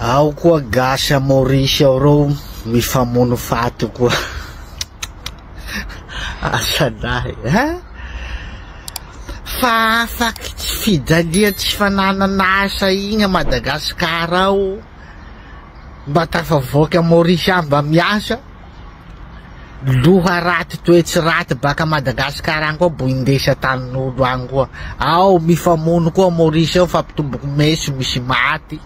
Ao koa gasy à Maurice ao reo mifamono faty koa asadahy a! Fa afaky tsy fijalia tsy fananana asa igny à Madagascar ao mba tafavoaky à Maurice any mba miasa, loha raty toetsy raty baka Madagascar any koa bo indesy atanin'olo any koa, ao mifamono koa Maurice ao fa mpitoboky meso misy maty.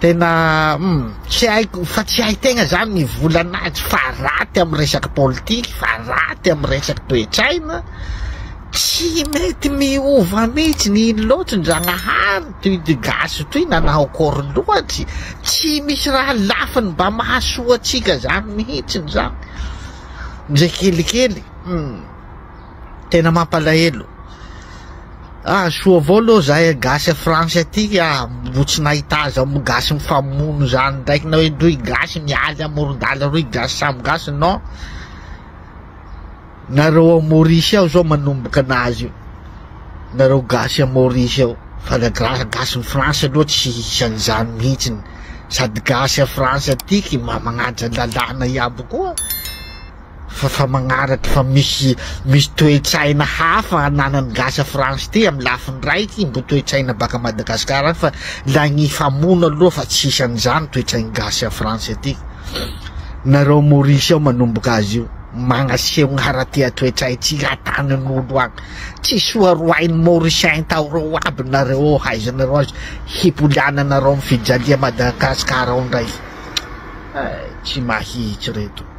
Tena hum tsy haiko fa tsy hay tegna zany ny volana azy fa raty am resaka politique fa raty am resaka toetsaina tsy mety miova mitsy ny ino loatry ndragnahary toy ty gasy toy nanao akory loatry tsy misy raha lafiny mba mahasoa atsika zany mihitsy zany ndre kelikely hum. tena mampalahelo ah soa avao aloha zahay gasy a France aty ah mbo tsy nahita azy ao amin'ny gasy mifamono zany ndraiky na hoe rohy gasy mialy amoron-dala rohy gasy samy gasy non nareo ao Maurice ao zao manomboka anazy io nareo gasy a Maurice ao fa la gra- gasy ny France aloha tsy isan'izany mihitsiny sady gasy a France atiky mba magnaja lalàna iaby koa. fa fa magnaraky fa misy misy toe-tsaina hafa ananan'ny gasy à France ty amin'ny lafiny iray ty mbo toe-tsaina baka Madagascar any fa lay nifamono aloha fa tsisy an'izany toe-tsain'ny gasy à France aty nareo Maurice ao manomboka azy io magnaseho ny haratia toe-tsaintsika atanin'olo any tsy soa roahin'ny Mauricien taoreo aby nareo ao haizanareo azy hipoliana nareo amin'ny fijalia Madagascar ao ndray eh, tsy mahitsy reto